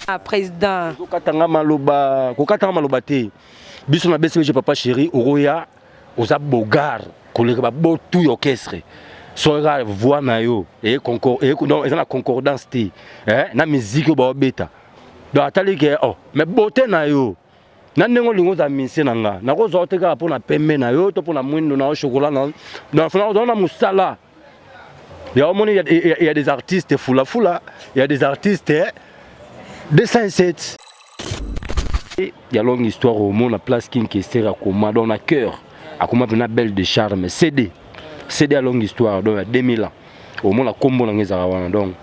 Ah, président kokatanga maloba kokatanga maloba te biso na bcbg papa chéri okoya oza bogar koleka babotu ya orchestre soka voix na yo eza na concordance te eh, na miziki oyo baobeta donc atali ke oh, mais bote na yo na ndenge olingi ozala misie na nga nakozwa yo te kaka mpo na pembe na yo to mpo na mwindo na yo chokola na yo donc fana ozala na mosala Il y a, il y a, il y a des artistes foula foula, il y a des artistes eh, de 107. Il y a longue histoire au monde, la place qui est à Koma, dans la cœur, à Koma, une belle de charme, CD. CD à longue histoire, donc à 2000 ans. Au monde, la combo, on est à donc.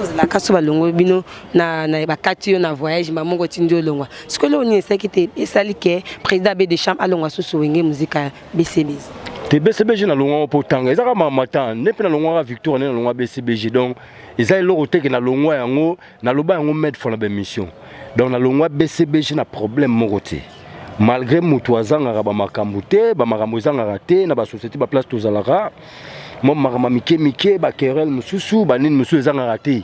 ozalaka so balongoli bino na bakati yo na voyage mba moko otindi olongwa sikoyo leo nini esaki te esali ke président abe de chambre alongwa susu wenge muzika BCBG te BCBG na longwa po tanga eza kama matan ne pe na longwa ka victoire ne na longwa BCBG donc eza eloko teke na longwa yango na loba yango made for la mission donc na longwa BCBG na problème moko te malgré mutu azangaka ba makambo te ba makambo ezangaka te na ba société ba place tozalaka mwa makambo mike mike ba querelle mosusu ba nini mosusu ezangaka te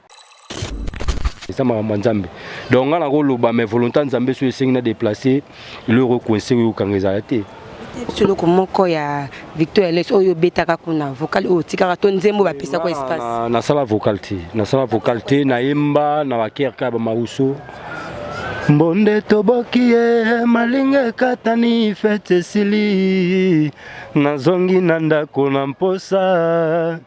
eza makambo ya nzambe donc ngai nakoloba mais volonté ya nzambe soki esengi na déplace eloko ekoinse oyo okanga ezala te biso eloko moko ya victor eles oyo obetaka kuna vocal oyo otikaka to nzembo bapesaka espace nasala vocal te nasala vocal te nayemba na bakerka ya bamauso mbonde toboki ye malinga ekatani fete esili nazongi na ndako na mposa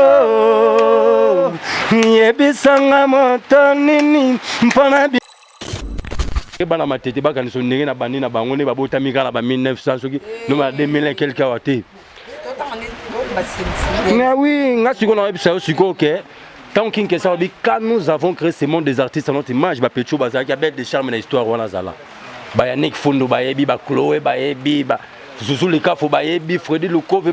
Oh, yebisanga moto nini mpo na bana matete bakanisa ndenge na bandi na bango nde babotami kaka na ba 1900 soki noma na 2001 quelque awa te mais oui nga sikoyo nayebisa yo sikoyo ke ntango kinkesa alobi quand nous avons créé ce monde des artistes à notre image bapetio bazalaki abete de charme na histoire wana azala bayanik fundo bayebi bacloe bayebi zuzu likafo bayebi fredi lukove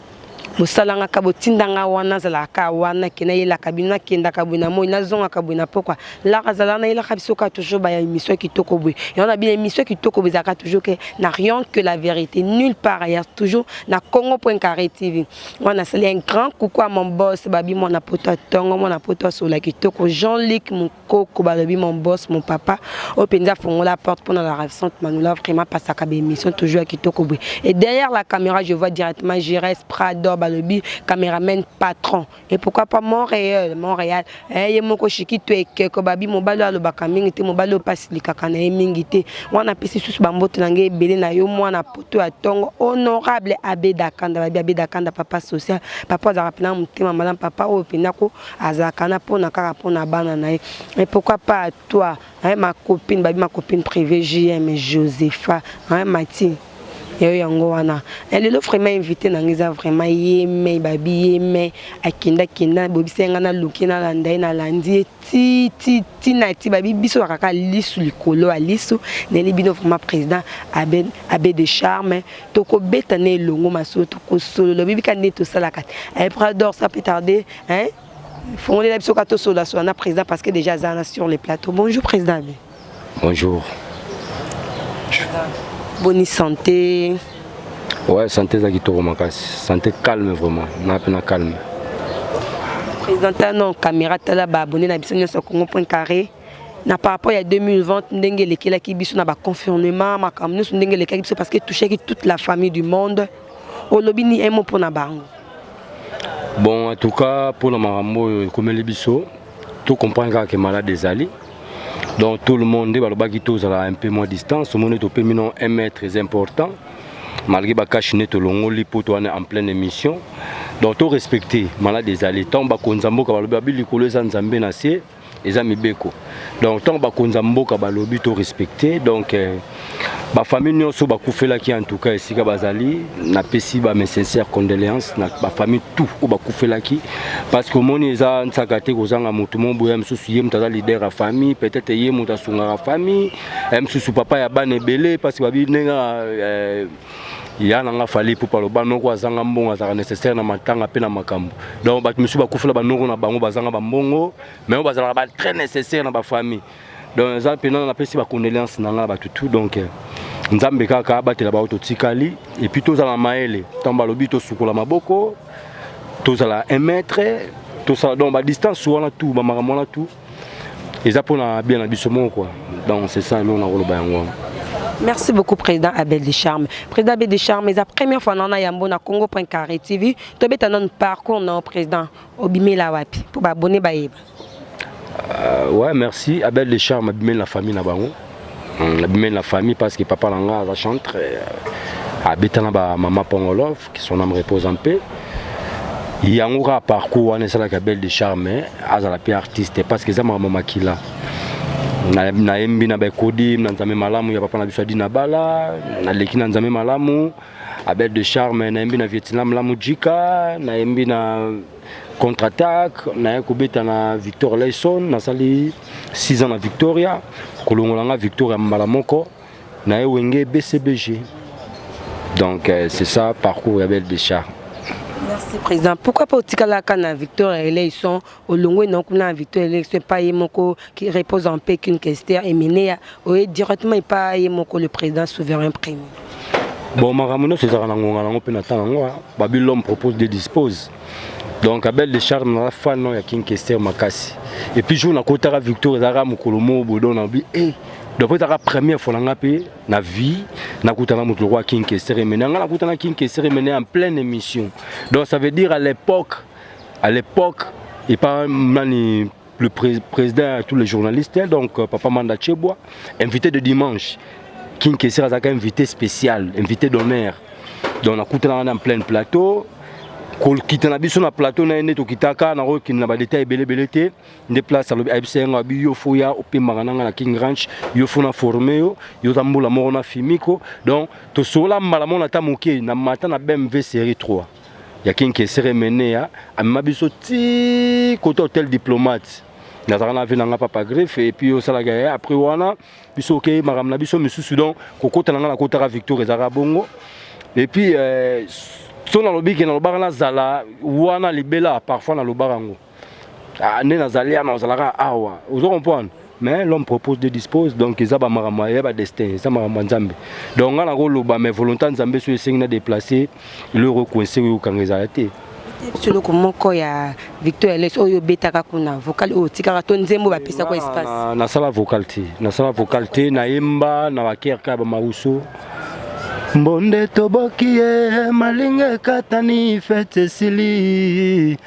bosalanga ka botinda nga wana nazalaka ka wana ke nayelaka bino nakendaka boye na moi nazongaka boye na pokwa laka zala nayelaka biso ka toujours baya émission kitoko boye yango na bino émission kitoko boye ezalaka toujours ke na rien que la vérité nulle part ailleurs toujours na congo point carré tv moi nasali un grand coucou à mon boss babi mwana poto atongo mwana poto asola kitoko jean luc Coco balobi mon boss mon papa oyo mpenza afongola porte mpo na la ravissante manola vraiment pasaka baémission toujours ya kitoko boye et derrière la caméra je vois directement gires prador balobi cameraman patron et pourquoi pas montréal montréal eh, ye moko shikito ekeko babi mobali oyo alobaka mingi te mobali oyo mpe asilikaka na ye mingi te wana apesi lisusu bambote na ngai ebele na yo mwana poto ya ntongo honorable abedakanda babi abedakanda papa social papa azalaka mpenza motema malamu papa oyo mpenza ko azalaka na pona kaka pona bana na ye mais pourquoi pas à toi hein, ma copine babi ma copine privée JM Josepha hein, Mati yayo yango wana eh, lelo vraiment invité na ngai eza vraiment yeme babi yeme akenda kenda bobisa ye ngai naluki nalanda ye nalandi ye ti ti ti na ti babi biso bakaka lisu likolo ya lisu nayeli bino vraiment président abe, abe de charme tokobeta na elongo masolo tokosolola oyebi ka nde tosalaka te eh, prador ça peut tarder hein fongolela biso ka tosololasolola na président parce que déjà aza na sur le plateau bonjour président abi bonjour boni santé ouais santé eza kitoko makasi santé calme vraiment na mpe na calme président tala na caméra tala baabonne na biso nyonso ya congo point carré na par rapport ya 2020 ndenge elekelaki biso na baconfirnement makambo nyonso ndenge elekaki biso parce que touchaki toute la famille du monde olobi ni emo mpo na bango bon en tout cas mpo na makambo oyo ekomeli biso to comprendre kaka ke malade ezali donc tout le monde nde balobaki tozala un peu moins distance omoni topemi no un mètre très important malgré bakashi nde tolongoli mpo towana en pleine émission donc torespecte malade ezali ntango bakonza mboka balobi babi likolo eza nzambe na se eza mibeko donc ntango bakonza mboka balobi to respecte donc euh, bafamille nyonso bakufelaki en tout cas esika bazali napesi ba mes sincère condoléance na bafamille tout oyo bakufelaki parce que omoni eza nsaka te kozanga motu mo boya mosusu ye moto aza leader ya famille peut-être ye moto asungaka famille mosusu papa ya bana ebele parce que babi ndenge euh, ya na nga fali ipupa loba noko azanga mbongo azalaka nécessaire na matanga mpe na makambo donc bato mosusu bakufela banoko na bango bazanga bambongo mais oyo bazalaka ba très nécessaire na bafamille donc eza mpena napesi bacondoléance na nga bato tout donc euh, nzambe kaka abatela bango totikali epuis tozala mayele ntango balobi tosukola maboko tozala un mètre tosala donc badistance wana tout bamakambo wana tout eza pona bien na biso moko quoi donc c'est ça eloko nakoloba yango wana Merci beaucoup président Abel de Charme. Président Abel de Charme, c'est la première fois nana yambo na Congo Point Carré TV. Tu beta non parcours non président. Obimela wapi pour ba abonner ba yeba. Euh, ouais, merci Abel de Charme abimela la famille na bango. Abimela la famille parce que papa langa a chanté euh, abeta na ba maman Pongolov. que son âme repose en paix yango kaka parcours wana esalaka belle de charme azala mpe artiste parce que eza makambo makila nayembi na baekodi na nzambe malamu ya papa na biso adi na bala naleki na nzambe malamu abel de charme nayembi na vietnam lamu jika nayembi na contre attaque naye kobeta na victor layson nasali 6 ans na victoria kolongola nga victoria mbala moko na ye wenge bcbg donc euh, c'est ça parcours ya belle decha merci président pourquoi pas otikalaka na victoire ya eleison olongwe na kuna na victoire ya eleison epa ye moko qui repose en paix qu'une kester emeneya oye directement epa ye moko le président souverain premier bon makambo nyonso ezalaka na ngonga nango mpe na ntango yango babi l'homme propose de dispose donc abel de charme naza fan ya king kester makasi epuis jour nakotaka victoire ezalaka mokolo moko bodo na bi e eh, donc ezaka première fois na nga mpe na vie nakutana moto lokola king kesere mene yanga nakutana king kesere mene en pleine émission donc ça veut dire à l'époque à l'époque epa nani le pré président tous les journalistes hein, donc euh, papa manda chebwa invité de dimanche king kesere azalaka invité spécial invité d'honneur donc nakutana wana en pleine plateau kokita na biso na plateau na ye nde tokitaka nakokende na badetail ebele ebele te nde place alobi ayebisa ye nga bi yo fo ya opemaka na nga na king ranch yo fo na forme yo yo za mbula moko na fimiko donc tosola mbala moko na ta moke na mata na bmv série 3 ya king kesere menea amema biso ti kota hotel diplomate nazalaka na vie na nga papa greffe et puis osalaka ye après wana biso okei makambo na biso misusu donc kokota na nga nakotaka victoire ezalaka bongo et puis euh, so nalobi ke nalobaka nazala wana libela parfois nalobaka yango ah, nde nazali yana ozalaka awa ozo comprendre mais l'homme propose de dispose donc eza bamakambo ya badestin eza makambo ya nzambe donc ngai nakoloba mais volonté ya nzambe soki esengi na déplace eloko ekoinse oyo okanga ezala te biso eloko moko ya victor eles oyo obetaka kuna vocal oyo otikaka to nzembo bapesaka espace nasala vocal te nasala vocal te nayemba na bakerka ya bamauso mbonde toboki ye malinga ekatani fete esili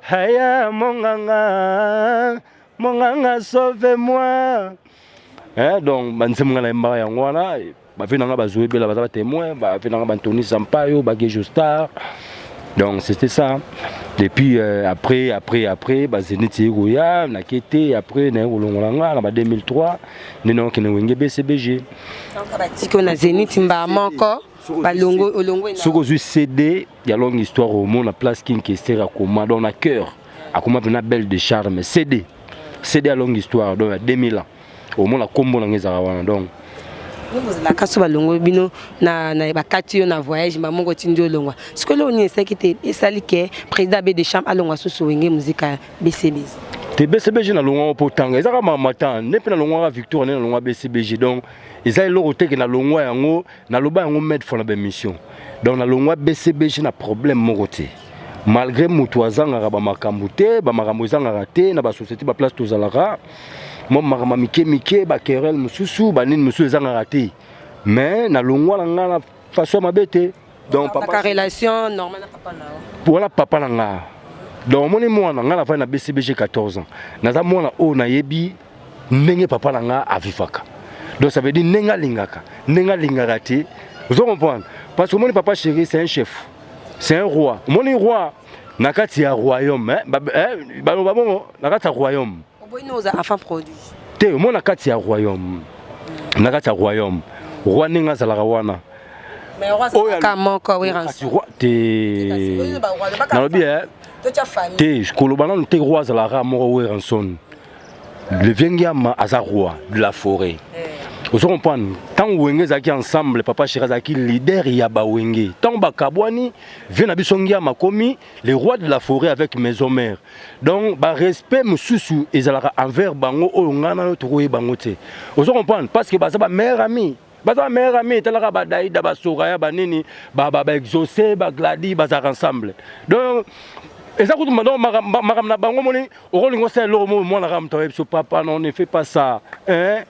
Haya monganga, monganga sauve moi. Eh donc banzembo nga na yembaka yango wana bafe na nga bazwi ebela baza ba témoin bafe na nga bantoni sampayo bagejo star donc c'était ça depuis euh, après après après bazeniti ye koya nake te après naye kolongola nga na ba 2003 nde nakokende wenge bcbg batiki na zeniti mbaa moko soki ozwi cd ya longue histoire omona place king kester akoma donc na cœur akoma mpena belle de charme cd cd ya longue histoire donc ya 2000 ans omona nkombo na ngai ezalaka wana donc ozalaka so balongoli bino na bakati yo na voyage mba moko otindi olongwa sikoyo leo nini esalaki te esali ke président abe de chambre alongwa susu wenge muzika bcbg te bcbg nalongwaka mpo tanga ezaka mamatan nde mpe nalongwaka victoire nde nalongwa bcbg donc eza eloko teke nalongwa yango naloba yango made for na bamission donc nalongwa bcbg na problème moko te malgré moto azangaka bamakambo te bamakambo ezangaka te na basociété baplace tozalaka mwa makambo mike mike bakerel mosusu banini mosusu ezangaka te mais nalongwa na ngai na façon ya mabe te donc papa relation normale na papa na yo wana papa na ngai donc omoni mwana ngai nafandi na bcbg 14 ans naza mwana oyo nayebi ndenge papa na nga avivaka donc ça veut dire ndenge alingaka ndenge alingaka te ozo comprendre parce que omoni papa chéri c'est un chef c'est un roi omoni roi na kati ya royaume eh, ba, eh, ba, ba, bongo na kati ya royaume te omoni na kati ya royaume na kati ya royaume roi ndenge azalaka wana te nalobi eh, te koloba nanu te roi azalaka moko weranson le vieux ngiama aza roi de la forêt eh. ozo comprendre ntango wenge ezalaki ensemble papa sheri azalaki leader ya bawenge ntango bakabwani vieux na biso ngiama akomi le roi de la forêt avec maison mère donc barespect mosusu ezalaka envers bango oyo ngai nayo tokoyeba bango te ozo comprendre parce que baza bamare ami baza ba meilleur ami etalaka ba daida ba soraya ba nini ba ba, ba exauce ba gladi bazalaka ensemble donc eza kutu mando makambo na bango moni okolinga osala eloko mo mwana kaka moto ayebi so papa non ne fait pas ça hein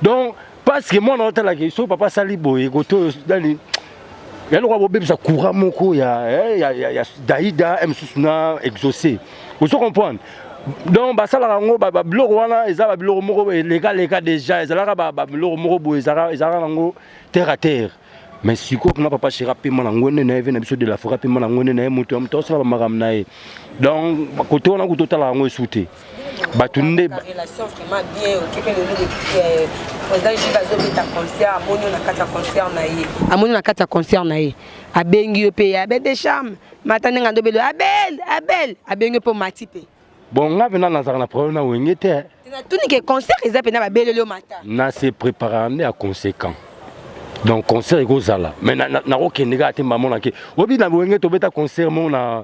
donc parce que mwana otalaki soki papa asali boye koto nani ya lokola bobebisa courant moko ya, eh, ya, ya, ya daida eh, mosusu na exauce ozo comprendre donc basalaka yango babiloko wana eza babiloko moko elekaleka déjà ezalaka babiloko moko boye ezalaka nango terre à terre mais sikoyo kuna papa shera pema na ngwende na ye ve na biso de la fora pema na ngwende na ye moto ya moto asala bamakambo na ye donc kote wana kuta otalaka yango esu te bato nde relation vraiment bien okepe lelo euh, président jibe azobeta concert amoni yo na kati ya concert na ye amoni na kati ya concert na ye abengi yo mpe abel de charme mata ndenge andobeli abel abel abengi yo mpe omati mpe bon nga mpena nazalaka na problème na wenge te eh. natuni ke concert eza mpena babeleli yo mata na se préparaka nde ya conséquent donc concert ekozala mais nakokende kaka te mbamonake oyebi na wenge tobeta concert moko na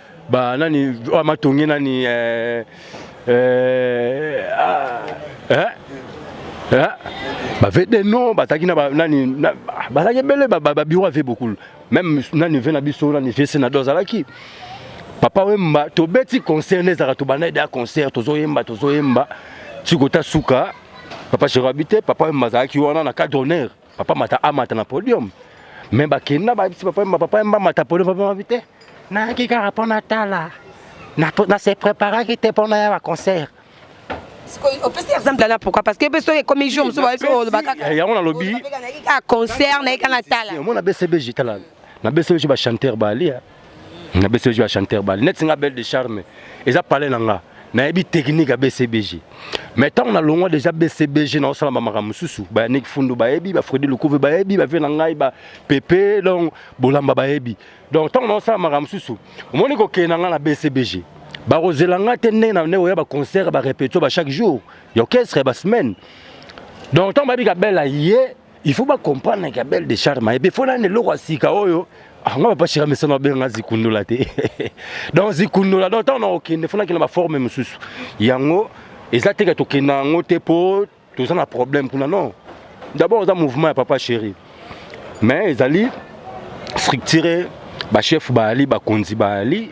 ba nani oyo matonge nani eh, eh, ah, eh, eh, bave de non bazalaki na nani bazalaki ebele babiro ave bokulu meme nani ve na biso nani vese na do azalaki papa wemba tobeti concert nde ezalaka tobanda ede ya concert tozoyemba tozoyemba tikota suka papa cheroabi te papa wemba azalaki wana na cadre honneur Papa Mata amata na podium. Mais bakende na bayebisi papa Emba, papa Emba amata podium, papa Emba te. Nayaki kaka mpo natala. Na, na se preparaki te mpo naya ba concert. opesi exemple na pourquoi parce que mpe soki ekomi jour mosusu bayebi oloba kaka yango nalobi kaka concert naye kaka natala omona bcbg tala na bcbg bachanteur balia na BCBG ba chanteur ba net nga belle de charme eza palais na nga nayebi technique ya BCBG mais ntango na longwa déjà BCBG na osala makambo mosusu ba Yannick Fundu bayebi ba Freddy Lukuve bayebi ba vie na ngai ba Pepe donc bolamba bayebi donc ntango na osala makambo mosusu omoni kokende na ngai na BCBG bakozela ngai te ndenge na ndenge oya ba concert ba répétition ba chaque jour ya orchestre ya ba semaine donc ntango bayebi kabela ye il faut ba comprendre que belle de charme et faut na eloko ya sika oyo anga ah, papa shira mesana abenga zikundola te donc zikundola donc ntango na kokende fo nakenda baforme mosusu yango eza teke tokenda yango te mpo toza na problème kuna non d'abord oza mouvement ya papa chéri mais ezali structure bachef baali bakonzi baali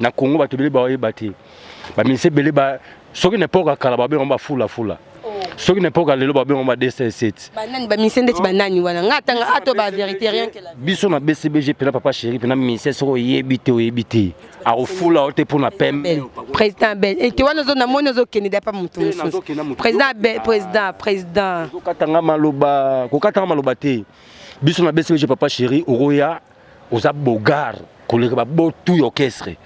na Congo bato ebele bayeba te baminisi ebele ba soki na epoka kala babenga ba fula fula oh. soki na epoka lelo babenga ba dss banani baminisi ndeti banani wana nga atanga ato ba verité rien que la biso na bcbg pena papa chéri pena minisi soko oyebi te oyebi te akofula yo te mpo na pembe président bel ete wana ozo namoni ozokende dapa moto mosusu président bel président président kokatanga maloba kokatanga maloba te biso na bcbg papa chéri okoya oza bogar koleka babo tout ya orchestre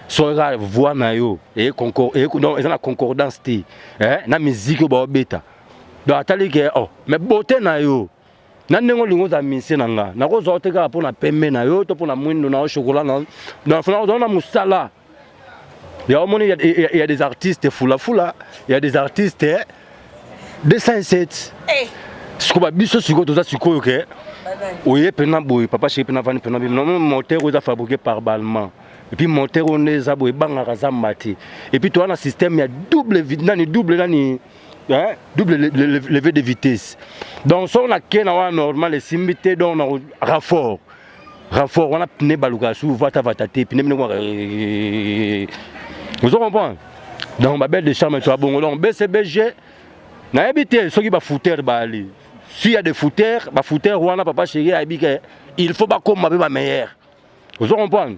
soki kaka voix na yo eye concor- eye- non, eza na concordance te eh, na miziki oyo baobeta donc atali ke oh, mais bote na yo na ndenge olingi ozala misie na nga nakozwa yo te kaka mpo na pembe na yo to mpo na mwindo na yo chokola na yo donc fana ozala na mosala Il y a, il y a, il y a des artistes foula foula, il y a des artistes 207. Hey. Sikoba biso sikoyo toza sikoyo ke oye pena boye papa chéri pena vani pena bino non moteur oza fabriqué par Balmain. Et puis moteur on est za boye bangaka za mati. Et puis toi na système ya double nani double nani hein double levée de vitesse. Donc son na kena wa normal esimbi te donc na raffort. renfort wana pne balukaka su vata vata te pne mine komaka ozo comprendre donc babelle de charme to abongo donc bcbg nayebi te soki bafoutere baali si ya de foutere bafoutere wana papa chéri ayebi ke il faut bakoma mpe bameilleur ozo comprendre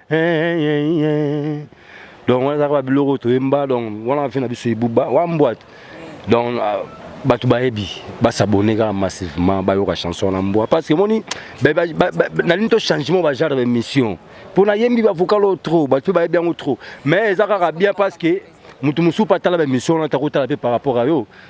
donc wana ezalaka babiloko toyemba donc wana afe na biso ebuba wa mbwate donc ah, bato bayebi basabone kaka massivement bayoka chanson wana mbwa parce que moni nalini to changement bagenre ya émission mpo nayembi bavocal oyo trop bato mpe bayebi yango trop mais eza kaka bien parce que moto mosusu mpe atala baémission wana takotala mpe par rapport ya yo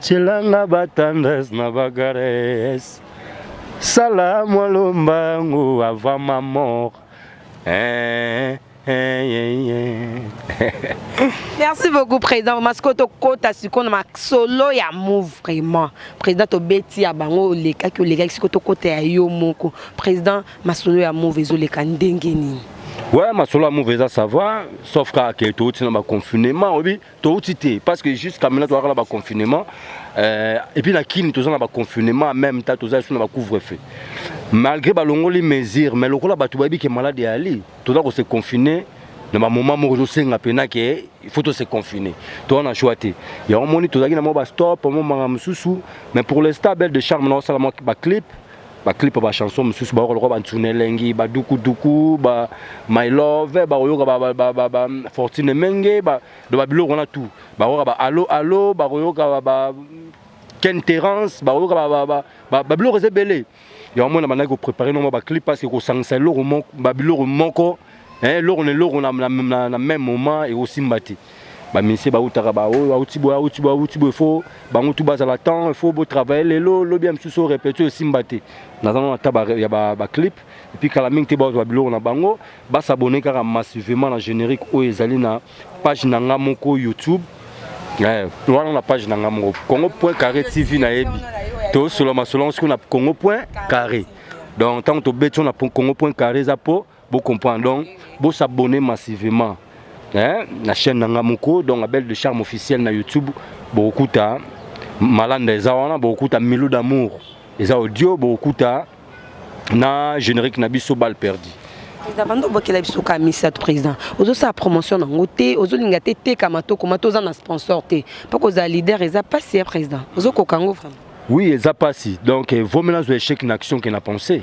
Chilanga batandas na bagares sala mwa lombangu avant ma mort eh, eh, eh, eh. merci beaucoup président vraiment sikoyo tokota sikoyo na masolo ya move vraiment président tobeti ya bango olekaki olekaki sikoyo tokota ya yo moko président masolo ya move ezoleka ndenge nini ouais masolo ya move eza savoir sauf kaka ke touti na baconfinement oyebi touti te parce que jusqu'à maintenant tozalaka na baconfinement euh, epuis na kini toza na baconfinement en même temps toza lisusu na bacouvre feu malgré balongoli mesure mais lokola bato bayebi ke malade eyali toza kose confine na bamoment moko ezosenga mpena ke il faut tose confine toza na choix te yango omoni tozalaki na mwa bastop mwa makambo mosusu mais pour l'instant belle de charme na osala mwa baclip ba clip ba chanson mosusu bayoka lokola bantuna elengi badukuduku ba my love bakoyoka ba fortune menge do babiloko wana tout bakoyoka ba alo alo bakoyoka ba ken terence bakoyoka babiloko eza ebele yango mona bandaki koprépare noma baclip parce que kosangisa eloko babiloko moko eh, eloko na eloko na, na, na, na même moment ekosimba te baministre bautaka baoyo bauti boye auti boye auti boye fo bango tu bazala temps fo botravaille lelo lobi ya mosusu oyo repeti oyo esimba te naza nano ata ya baclip epuis kala mingi te bazwa biloko na bango basabone kaka massivement na générique oyo ezali na page na nga moko youtube eh, wana na page na nga moko congo point carré tv nayebi tosola masolo yango soki na congo point carré donc ntango tobeti wana congo point carré eza mpo Bo comprendre donc bo s'abonner massivement hein na chaîne nanga moko donc Abel de Charme officiel na YouTube bokuta malanda eza wana bokuta Milo d'amour eza audio bokuta na générique na biso bal perdu président banda obwakela biso ka misato président ozosala promotion nango te ozolinga te tekama tokoma toza na sponsor te mpo kozala leader eza mpasi ya président ozokoka yango vraiment oui eza mpasi donc eh, vomela azwa échec na action ke na pensée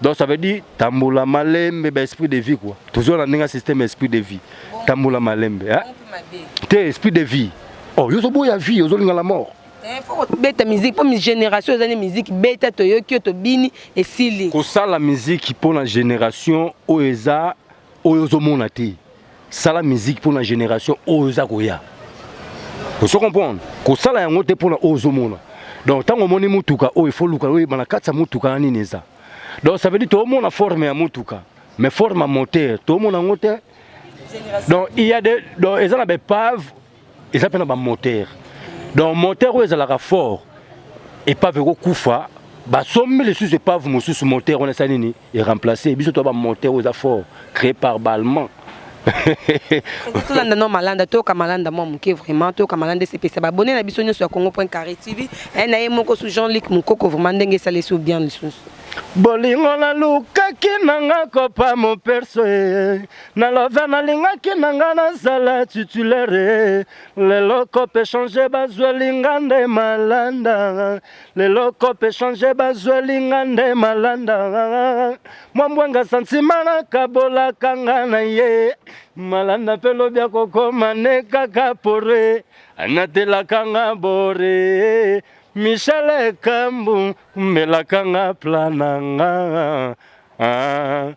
Donc ça veut dire tambola malembe ba esprit de vie quoi. Toujours na ndenge système esprit de vie. Tambola malembe hein. Te esprit de vie. Oh yo zo boya vie, yo zo linga la mort. Eh, beta musique mpo génération eza ne musique beta toyoki yo tobini esili kosala musique mpo na génération oyo eza oyo ozomona te sala musique pour la génération oyo eza koya ozo comprendre kosala yango te mpona oyo ozomona donc ntango omoni motuka oyo ifo luka oyeba na kati ya motuka na nini eza donc ça veut dire toomona forme ya motuka mais forme ya moteur toomona yango te donc il y a de donc eza na baepave eza mpe na bamoteur donc moteur oyo ezalaka fort epave ekokufa basombi lisusu epave mosusu moteur wana esali nini eremplace biso to bamoteur oyo eza fort créé par ballemand tolanda no malanda toyoka malanda mwa moke vraiment toyoka malanda esepesa babone na biso nyonso ya congo point carré tv eh, na ye moko su jean luc mokoko vraiment ndenge esalisi o bien lisusu bolingo nalukaki nanga kopa moperso Na love nalingaki na nga nazala titulaire lelo kope change bazweli nga nde malanda lelo kope change bazweli nga nde malanda mwa mbwanga santima nakabolaka nga na ye malanda mpe lobi akokoma ne kaka pore anatelaka nga bore michel ekambu kumbelaka nga plananga ah.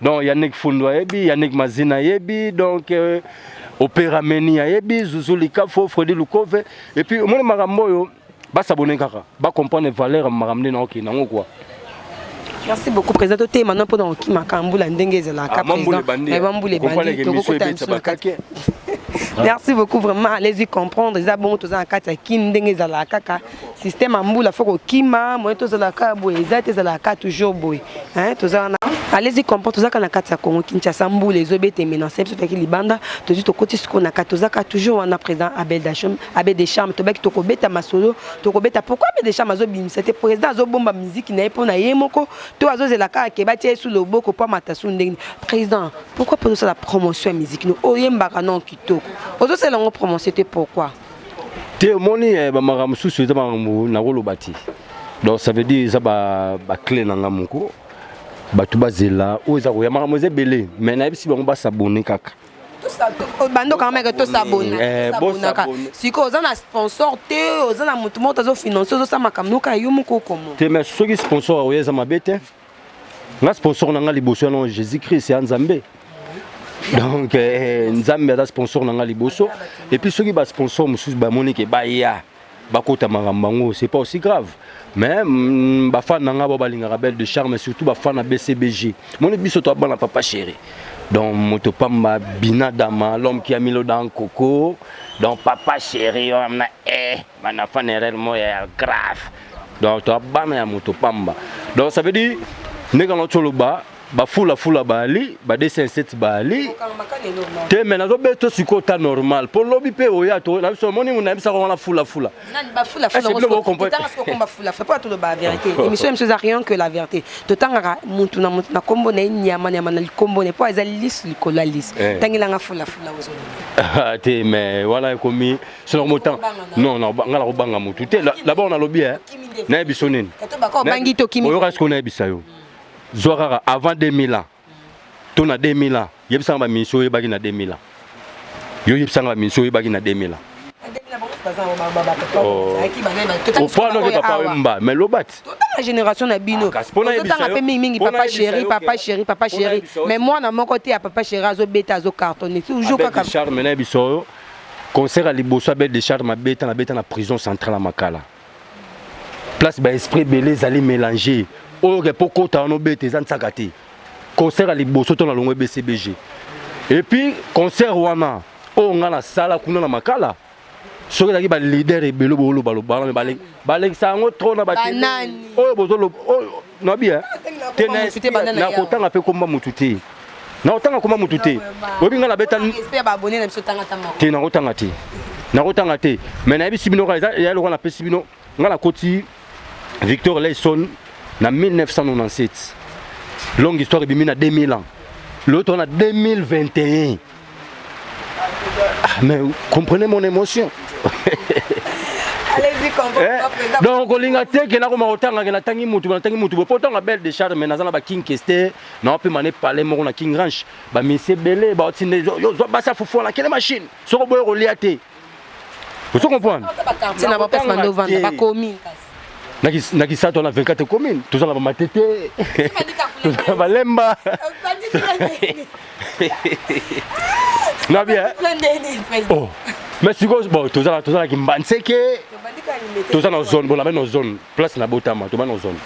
donc Yannick Fundu ayebi Yannick Mazina ayebi donc euh, Opera Meni ayebi Zuzu Likafo Freddy Lukove et puis omoni makambo oyo basabone kaka bacomprendre valeur ya makambo nde naokende yango kua merci beaucoup président tote maintenant mpo na kokima kambula ndenge ezalaka président bambula ebandi tokokota misu na kati merci beaucoup vraiment allez-y comprendre eza bongo toza na kati ya kin ndenge ezalaka kaka système ambula faut kokima moye tozalaka boye eza te ezalaka toujours boye toza wana alezi comprendre tozalaka na kati ya congo kinshasa mbula ezobeta emenance biso toyaki libanda tozwi tokoti sikoyo na kati tozalaka toujours wana président abel dacham abel de charme tobaki tokobeta masolo tokobeta pourquoi abel de charme azobimisa te président azobomba miziki na ye mpo na ye moko to azozela kaka ke batia ye su loboko mpo amata su ndenge président pourquoi mpo ozosala promotion ya miziki no oyembaka non kitoko ozosala yango promotion te pourquoi te omoni eh, bamaka mosusu eza makambo nakoloba te donc ça veut dire eza baclé na nga moko bato bazela oyo eza koya makambo eza ebele mais nayebisi bango basabone kaka bando quand même que to s'abonner eh, bosabonaka sikoyo oza na sponsor te oza na moto moko tozofinance ozosala makambo noka yo moko okomo te mais soki sponsor akoya eza mabe te nga sponsor na nga liboso ya non jésus christ ya nzambe donc eh, nzambe aza sponsor na nga liboso epuis soki basponsor mosusu bamoni ke baya bakota makambo yango c'est pas aussi grave mais mm, bafane na nga bao balingaka belle de charme surtout bafane na bcbg moni biso toa bana papa chéri donc moto pamba bina dama l'homme qui a milo dans coco donc papa chéri wana eh bana fan erreur moya ya grave donc toa bana ya moto pamba donc ça veut dire ndenge yango toloba bafulafula baali ba 207 baali te me nazobeta sikoyo ta normal mpo lobi mpe oya to na biso omoni na bisaka wana fulafula émission biso eza rien que la vérité totangaka mutu na mutu na nkombo na ye nyama nyama na likombo na ye mpo eza lisu likolo ya lisu eh. tangelanga fulafula ozoloba ah, te me wana ekomi sino motanga non non ngai nakobanga motu te labord nalobi e nayebi so nini oyoka sikoyo nayebisa yo zwa kaka avant 2000 ans to na 2000 ans yebisanga baminisi oyebaki na 2000 ans yo yebisanga baminisi oyebaki na 2000 ans opanoke papa wemba mais lobati totanga génération na bino ah, ozotanga mpe mingimingi papa chéri papa chéri papa chéri mais mwana moko te ya papa chéri azobeta azocartonne toujours kaka charme na biso oyo Concert ya liboso ya Belle de Charme abeta na beta na prison centrale ya Makala. Place ba esprit belé zali mélanger. Oyo ke po kota wana obeta eza nsaka te. Concert ya liboso to na longo BCBG. Et puis concert wana oyo nga na sala kuna na Makala soki ezalaki ba leader ebele boloba loba mais balekisa yango trop na ba oyo bozoloba nabi eh? te nakotanga mpe komba motu te nakotanga komba motu te oyebi ngai nabeta te nakotanga te nakotanga te mai nayebisi bino kaka ya lokola napesi bino ngai nakoti victor layson na 1997 longue histoire ebimi na 2000 ans loto na 2021 Ah, mais comprenez mon émotion. Eh, donc kolinga te ke nakoma kotanga ke natangi mutu natangi mutu bo potanga belle de charme naza na ba king keste na wapi mane palais moko na king ranch ba misie bele ba otinde yo zwa basa fufu na kele machine soko boye kolia te ozo comprendre tina ba place bande ovanda ba commune kasi na kisatu wana 24 commune toza na bamatete toza na balemba na bien oh. mais sikoyo bon toza na kimbanseke toza na zone bolaba na zone place na botama toba na zone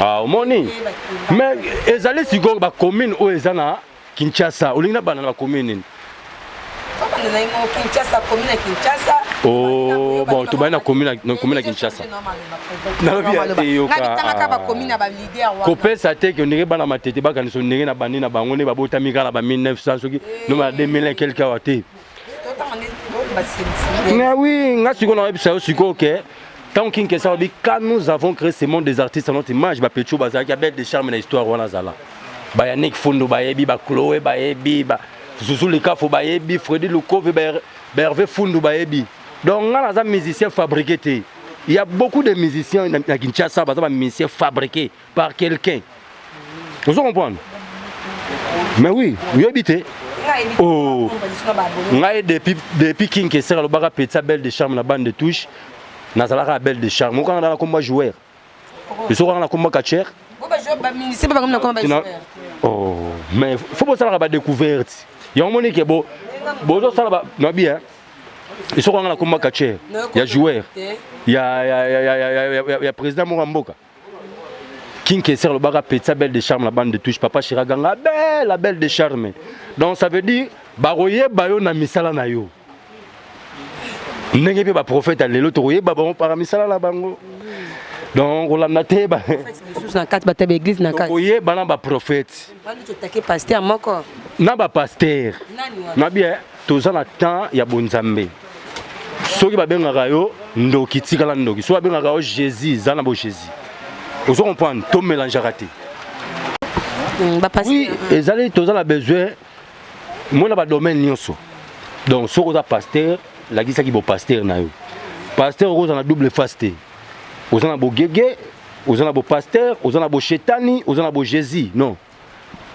ah, omoni mais ezali sikoyo bacommune oyo eza na Kinshasa, olingi na bana na commune nini? Abanda na imo Kinshasa, commune ya Kinshasa. Oh, bon, tobandi na commune na- na commune ya Kinshasa. Nalobi ya te yoka. Nabitangaka ba commune ya ba leader wana. kopesa te ke ndenge bana matete bakanisa ndenge na bandi na bango nde babotami kaka na ba 1900 soki noma na 2001 quelque awa te Mais oui, nga siko na webisa yo siko ke tant kin que ça obi quand nous avons créé ce monde des artistes à notre image ba pecho ba zaki belle de charme na histoire wana zala. Ba Yannick Fundo ba yebi ba Chloé ba yebi ba Zuzu Likafu ba yebi Freddy Lukove ba Hervé Fundo ba yebi. Donc nga naza musicien fabriqué te. Il y a beaucoup de musiciens na Kinshasa baza ba musiciens fabriqués. par quelqu'un ozo comprendre mais oui oyebi te oh ngai depuis depuis king kesera lobaka petit belle de charme na bande de touche nazalaka ya belle de charme okanga na nakomba joueur esokanga nakomba catcher oh mais fo bosalaka badecouverte yango moni ke bo bozosala nabi esokanga nakomba catcher ya joueur ya président moko ya mboka King Kessler lobaka petsa belle de charme la bande de touche papa Chira ganga belle la belle de charme donc ça veut dire bakoyeba yo na misala na yo ndenge mpe baprofete ya lelo tokoyeba bango para misala na bango donc kolanda te koyeba na baprofete na bapaster nabi eh, toza na temps ya bonzambe soki babengaka yo ndoki tikala ndoki soki babengaka yo jésus za na bo jésus ozo comprendre to mélangeaka te mm, oui ezali toza na besoin mona badomaine nyonso donc soki oza paster lakisaki bopaster na yo paster okozala na double face te oza na bogege oza na bo pasteur oza na bo shetani oza na bo jésus non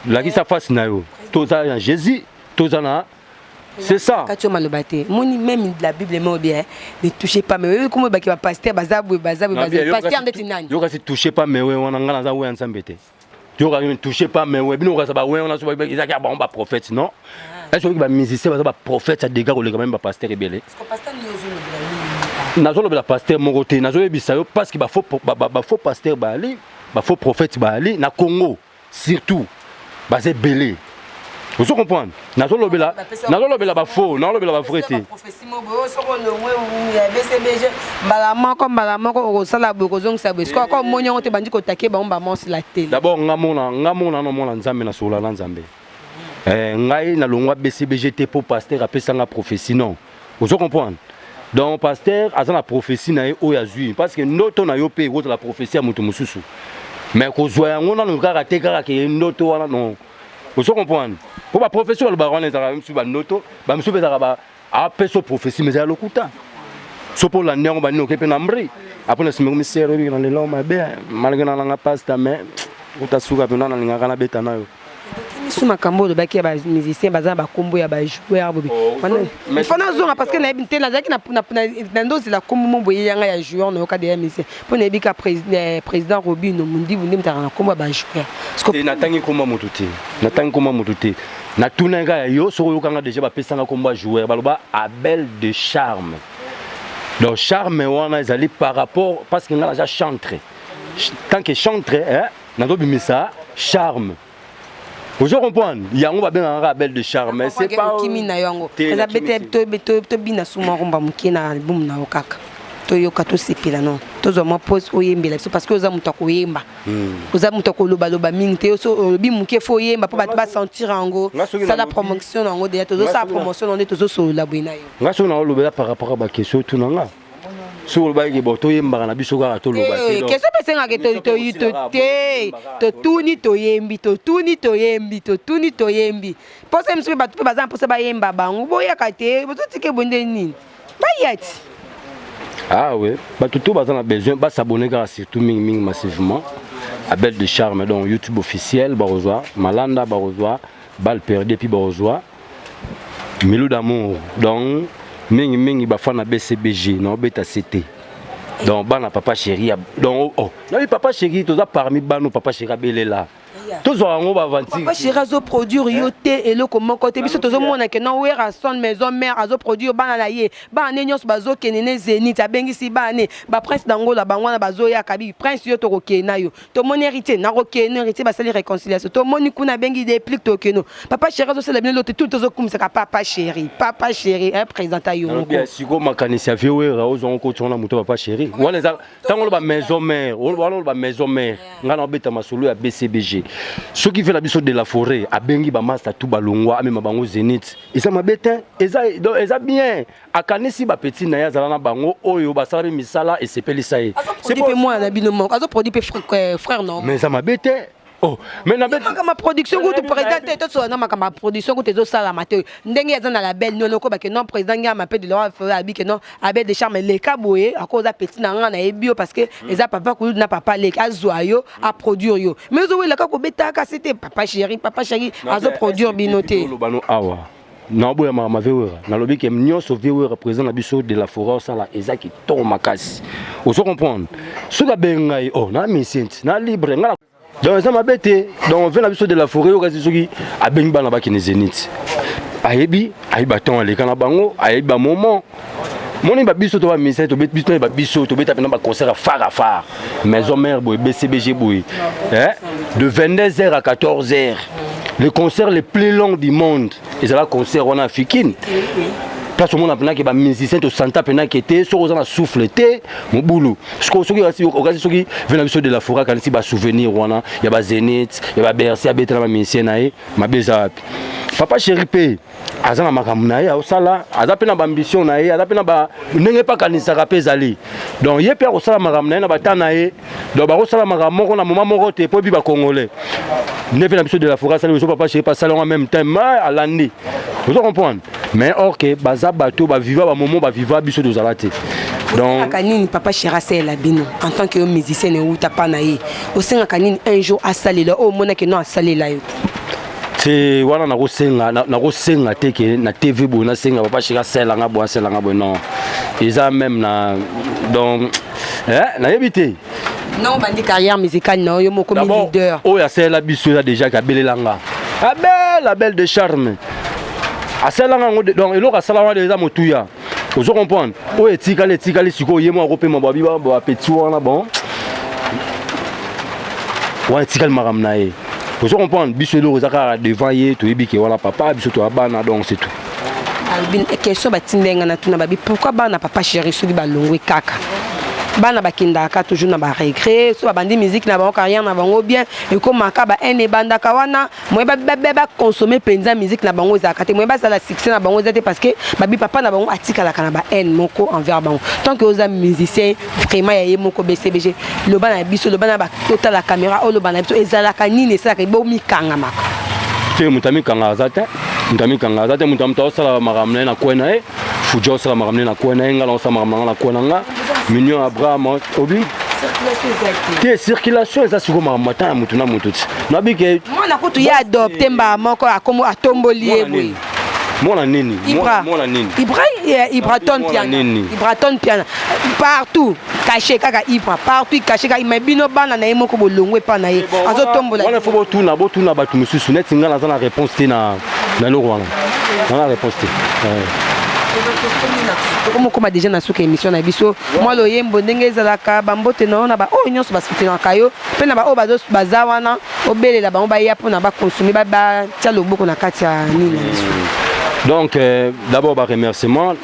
lakisa face na yo toza na jésus toza na c'est ça kati yo maloba te moni même la bible emo bien ne touchez pas mais oyebi komo ebaki bapasteur baza boye baza boye baza pasteur ndeti nani yo kasi touchez pas mais wana ngai naza weya nzambe te yoka ne touche pas mais ouais bino kaza ba ouais on a soba ils a ba ba prophète non ah. est-ce que ba musicien baza ba prophète ya dégâts ko leka même ba pasteur ebele parce que pasteur ni ozo lobela nazo lobela pasteur moko te nazo yebisa yo parce que ba faux ba, ba, ba faux pasteur ba ali ba faux prophète ba ali na Congo surtout baza ebele ozo comprendre nazo lobela nazo lobela ba faux nazo lobela ba vrai te prophétie mo boyo soko longwe ou ya BCBG mbala moko mbala moko okosala boye kozongisa boye sikoyo ko moni yango te bandi kotake bango ba monce la tele d'abord nga mona nga mona na mona nzambe na sola na nzambe eh ngai na longwa BCBG te po pasteur apesa nga prophétie non ozo comprendre donc pasteur aza na prophetie na ye oyo azwi parce que ndoto na yo mpe ekozala prophetie ya moto mosusu mais kozwa yango nano kaka te kaka ke ndoto wana non ozo comprendre mpo baprofesi balobaka wana ezalaka misusu bandoto bamisusu mpe ezalaka apesa ah, prophetie mais ezala lokuta so mpo olandi yango banini oke mpe na mbri apres na nsima komisere ebiki na lelo mabe malgre na nanga pasta mais utasuka mpenza nalingaka nabeta nayo biso makambo olobaki ya ba musicien baza na bakombo ya bajoueur bobe oh, fo nazonga parce que nayebi te nazalaki na ndozela kombo mo boye yanga ya joueur nayoka deya musicien mpo nayebi ka eh, président robino mondibu nde motaka na kombo ya bajoueur eh, natangi kombo ya moto te natangi kombo ya moto te natunaki kaka yo soki oyokanga déjà bapesanga kombo ya joueur baloba abel de charme donc charme wana ezali par rapport parce que ngai naza chantre tant que chantre eh, nazo bimisa charme ozo comprendre yango babengaka kaka belle de charme mais c'est pas okimi na yo yango eza bete tobina suma rumba moke na album na yo kaka toyoka tosepela no tozwa mwa pose oyembela biso parce que oza moto ya koyemba hmm. oza moto ya kolobaloba mingi te oso olobi moke fo oyemba mpo bato basentir yango sala promotion na yango deja tozosala promotion na yango nde tozosolola boye na yo nga soki na olobela par rapport ya bakestion otuna nga soki olobaki ke bo toyembaka na biso kaka toloba te eh, keso mpe esengaka te totuni toyembi totuni toyembi totuni toyembi mposa mosusu mpe bato mpe baza na mposa bayemba bango boyaka te bozotike bonde nini baya ti awe ah bato to baza na besoin basabone kaka surtout mingi mingi massivement abel de charme donc youtube officiel bakozwa malanda bakozwa bal perdu epuis bakozwa Milou d'amour donc mingi mingi bafana BCBG na obeta CT donc bana papa chéri donc oh, oh. nabi papa chéri toza parmi bano papa chéri abelela tozwaka yango baaventire chéri azoproduire yo eh? te eloko moko te biso tozomona ke na werrason maison mare azoproduire bana na ye bana ne nyonso bazokende ne zénith abengisi bana ne baprince dangola bango wana bazoyaka bi prince yo tokokende na yo tomoni héritier nakokeno héritier basali réconciliation tomoni kuna abengi déplic tokeno papa chéri azosala bino lote tout tozokumisaka papa chéri papa chéri un présenta yongosiko makanisi ya viewera ozwango koti wana moto papa chéri wana eza ntango oloba maison mare wana oloba maison mare ngai naobeta masolo ya bcbg soki ve na biso de la forêt abengi bamasta tu balongwa amema bango zenit eza mabe te eza bien akanisi ba petit na ye azala na bango oyo basala mpe misala esepelisa ye azoprodui mpe mwana na bino moko azoprodui mpe euh, frère no mais eza mabe te Oh, mais na beta ma production kutu président te to sona ma ma production kutu ezo sala ma te ndenge ya na label non ko ba que non président nga ma pe de la fera bi que non abé de charme le kaboye à cause petit na nga na ebio parce que hmm. eza papa ko na papa le azwa yo a produire yo mais zo wela ka ko beta ka c'était papa chéri papa chéri azo produire binoté lo bano awa naoboya makambo ya viewera nalobi ke nyonso viewera président na biso de la foret osala eza kitoko makasi ozo comprendre soki abenga ye o oh, na misienti na libre nga donc eza mabe te donc vie na biso de la foret yokasi soki abengi bana bakende zenit ayebi ayebi baton aleka na bango ayebi bamoment moni ba biso to ba musiciens to biso na ba biso to beta pena ba concert phare à phare maison mère boy BCBG boy hein de 22h à 14h le concert le plus long du monde et ça va concert on a fikine place omona mpenaki bamusicien tosanta mpenaki te soki oza na souffle te mobulu soki okasi soki ve na biso de la foret akanisi basouvenir wana ya bazenit ya babercy abetela bamusicien na ye mabe eza wapi papa chéri mpe aza na makambo na ye aosala aza mpe na baambition na ye aza mpe na ba ndenge mpe akanisaka mpe ezali donc ye mpe akosala makambo na ye na bata na ye donc bakosala makambo moko na moma moko te mpo ebi bacongolais nde mpe na biso de la foka asali ozo papa shepa asali yango en même temps ma alandi ozo comprendre mais or ke baza bato baviva bamomo baviva biso tozala te osengaka nini papa chéri asalela bino en tant que yo musicienne euta mpa na ye osengaka nini un jour asalela oyo omonaki no asalela yo te te wana nakosenga nakosenga te ke na tv boye nasenga papa shika asala nga boye asala nga boye non eza meme na donc eh, nayebi te non obandi carrière musicale na yo moko mi leader oyo asalela biso eza déjà ke abelela nga abela belle de charme asalelanga yango donc eloko asalaka wana eza motuya ozo comprendre oyo etikali etikali sikoyo ye moko akopema babi bapeti wana bon wana etikali makambo na ye ozo comprendre biso eloko eza kaka devant ye toyebi ke wana papa biso toya bana donc c'est tout question batindai ngai natuna babi pourquoi bana papa chéri soki balongwe kaka bana bakendaka toujours na baregret so babandi miziki na bango carrière na bango bien ekomaka ba haine ebandaka wana moye baconsome mpenza musique na bango ezalaka te moye basala succès na bango eza te parce que babi papa na bango atikalaka na bahaine moko envers bango tant que oza musicien vraiment ya ye moko bcbg loba na biso loba na totala caméra oyo loba na biso ezalaka nini esalaka bomikangamaka te moto amikanga aza te moto amikanga aza te moto ya moto aosala makambo na ye na kwe na ye fuja osala makambo nde na kwe na ye ngai naosala makambo na ngai na kwe na nga mignon abraham obi te circulation eza sikoyo makambo ata ya motu na motu ti nabi ke mwana kutu ye adopte mbaa moko akomo atomboli ye boye mwana nini mwana nini ibraton piana ibraton piana partout cache kaka ibra partout cache kaka mais bino bana na ye moko bolongwe epa na ye azotombola wana fo botuna botuna bato mosusu neti ngai naza na réponse te na eloko wana nana réponse te okomokoma deja na suka émission na biso mwa loyembo ndenge ezalaka bambote na yo na baoyo oh, nyonso basutenaka yo mpe na baoyo oh, baza wana obelela bango baya mpona bakonsome batya loboko na kati ya nini na biso donc euh, d'abord baremerciement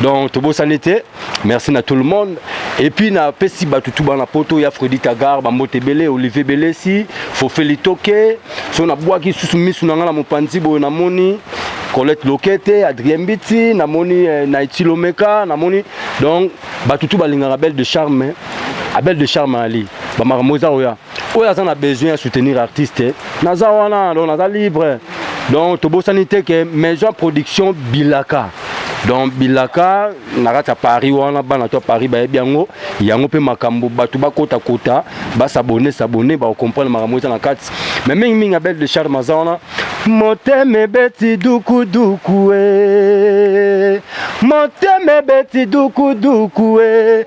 donc tobosani te merci na tout le monde et puis na pesi bato tu bana poto ya fredi tagar bambote ebele olivier belesi fofeli toke so nabwaki susu misu na ngai na mopanzi boye namoni colette lokete adrien mbiti namoni eh, na etilomeka namoni donc bato tu balingaka belle de charme abel de charme ali bamakambo eza oya oyo aza na besoin ya soutenir artiste naza wana donc naza libre donc tobosani te ke maison ya production bilaka donc bilaka na kati ya paris wana bana to ya paris bayebi yango yango mpe makambo bato bakotakota basabone sabone bakokomprendre makambo eza na kati me mingimingi ya belle de charme aza wana motema ebeti dukuduku e motema ebeti dukuduku e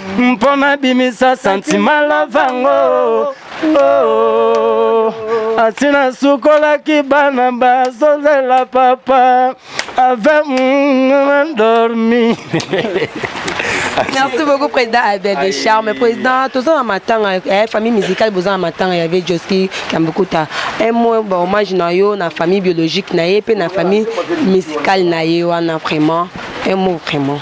mpo nabimisa santima lavango oh, asi nasukolaki bana bazozela papa ave mandormi merci beaucoup président abel de charme président toza na matanga eh, famille musicale boza na matanga ya vie joski kambukuta un mot ba hommage na yo na famille biologique na ye mpe na famille musicale na ye wana vraiment un mot vraiment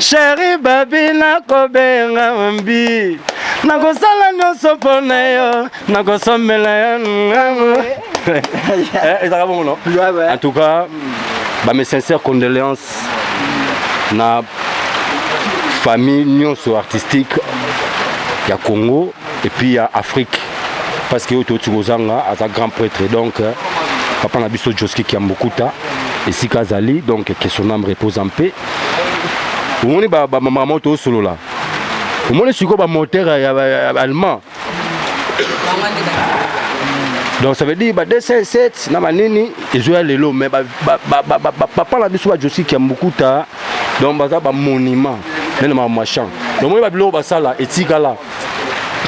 sheri babi nakobenga mbi nakosala nyonso mpo na yo nakosombela yo ngango eh, ezaka bongo no en tout cas bame sincère condoléance na famille nyonso artistique ya congo et puis ya Afrique parce que oyo touti kozanga aza grand prêtre donc papa na biso Joski Kiambukuta esika azali donc que son âme repose en paix omoni bamama oyo tosolola omoni sikoyo bamoteur ya allemand donc ça veut dire ba 207 na banini ezoya lelo mais bapapa na biso bajosi kiambukuta donc baza bamonument nene mamachan omoni babiloko basala etikala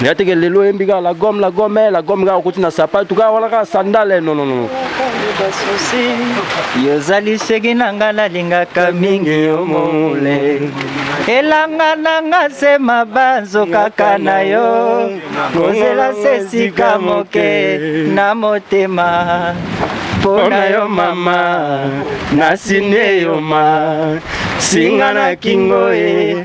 yateke lelo oyembi kaka la gomme la gomme eh, la gomme kaka okoti na sapatu kaka wana kaka sandale non non non yozali seki na nga nalingaka mingi yo mole elanga na nga se mabanzo kaka na yo kozela se esika moke na motema mpo na yo mama nasini eyoma singa na kingo e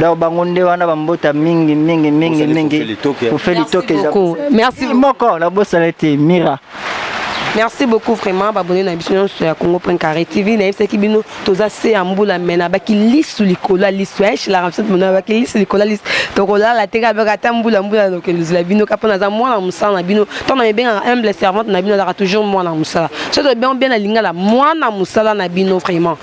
donc bango nde wana bambota mingi mingi mingi mingi kufe litoke moko nabosana ete mira merci beaucoup vraiment babone na biso nyonso ya congo point carré tv nayebisaki bino toza se ya mbula me nabaki lisu likolo ya lisu eshilaka biso mona nabaki lisu likolo ya lisu tokolala te kaka baka ata mbula mbula nokende ozela bino kaka mpo naza mwana mosala na bino ntango na mibengaka humble servante na bino azalaka toujours mwana mosala soki tobengo bien na lingala mwana mosala na bino vraiment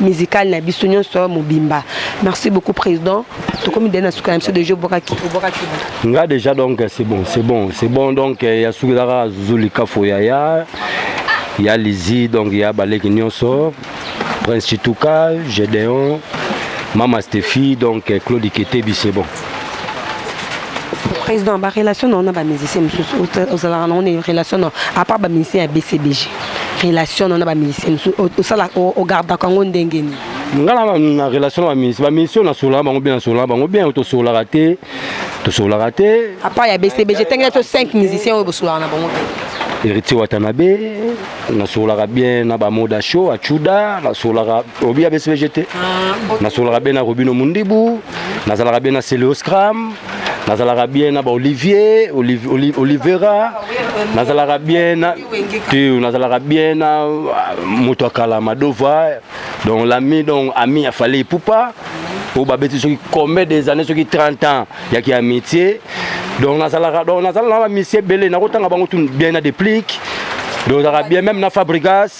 musicale na biso nyonso mobimba merci beaucoup président tokomi dai na suka na biso deja obwakaki obwakaki nga déjà donc c'est bon c'est bon c'est bon donc euh, ya suki ezaka zuzu likafo yaya ya lizi donc ya baleki nyonso prince chituka gedeon mama stephi donc euh, claude ketebi c'est bon président ba relation na ona ba musicien mosusu ozalaka nango na relation na à part ba musicien ya bcbg relation na ona ba musicien mosusu osala ogardaka yango ndenge nini nga na relation na bamusicien bamusicien oyo nasololaka bango bien nasololaka bango bien tosololaka te tosololaka te à part ya bcbg tengela to 5 musicien oyo bosololaka na bango bien héritier watanabe nasololaka bien na bamoda show achuda nasololaka obi ya bcbg te nasolaka be na robino mundibu nazalaka be na celeoscram nazalaka bien na baolivier olivera nazalaka bien na tu nazalaka bien na ah, moto ya kala madova donc lami donc ami ya fale ipupa oyo babeti soki combien des années soki 30 ans ya ki amitié donc nazalaka donc nazala na bamisie ebele nakotanga bango tu bien na deplique donc ozalaka bien même na fabrigas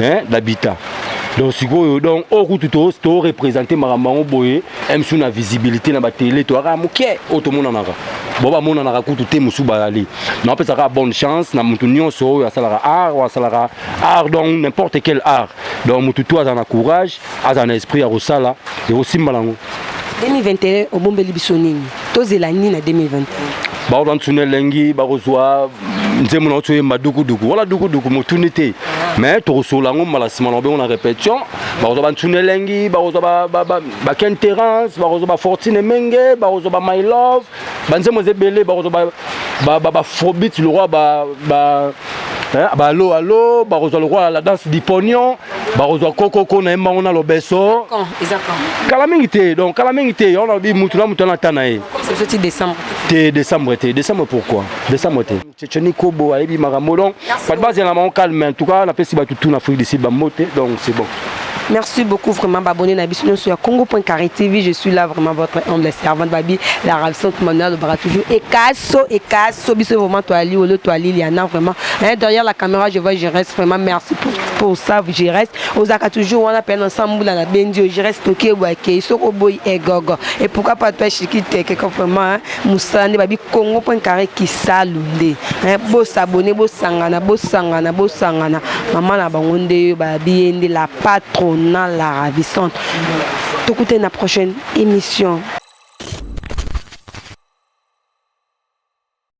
hein d'habitat donc sikoyo donc oyo kutu torepresente makambo yango boye msu na visibilité na batele toyaka moke oyo tomonanaka bo bamonanaka kutu te mosusu bazali napesa kaka bonne chance na motu nyonso oyo asalaka art oyo asalaka art donc n'importe quel art donc motu to azala na courage azala na esprit ya kosala ekosimba nango 2021 obombeli biso nini tozela nini na 2021 baoyo bantuna elengi bakozwa nzembo na oso oyemba dukuduku wala dukuduku motuni te mais tokosolola yango mbala nsima na obengo na répétition bakozwa bantuna elengi bakozwa baken terrance bakozwa bafortune menge bakozwa ba my love banzembo eza ebele bakozwa bafrobit lokola ba alo alo bakozwa lokola la danse dipognon bakozwa kokoko na ye mbango na lobeso kala mingi te donc kala mingi te yango nalobi mutu na mutu ana ata na ye te décembre te décembre pourquoi décembre te ceceni kobo ayebi makambo donc bato bazela na bango calme en tout cas napesi bato tout na afrique du sud bambote donc c'est bon Merci beaucoup vraiment abonné na biso sur congo.carré TV. Je suis là vraiment votre humble servante Babi, la ravissante Manuel de Baratou. Et Kasso, et Kasso, biso vraiment toi Ali, Olo, toi Liliana vraiment. Hein, derrière la caméra, je vois, je reste vraiment merci pour po save je reste ozalaka toujours wana pene na sambula na bendi yo je reste toki ebwa kei soki oboyi egogo et pourquoi pas toi chiki teke ko vraiment mosala nde babi congo point carré kisalu nde bosabone bosangana bosangana bosangana mama na bango nde yo babi ye nde la patrona la ravissante tokutani na prochaine émission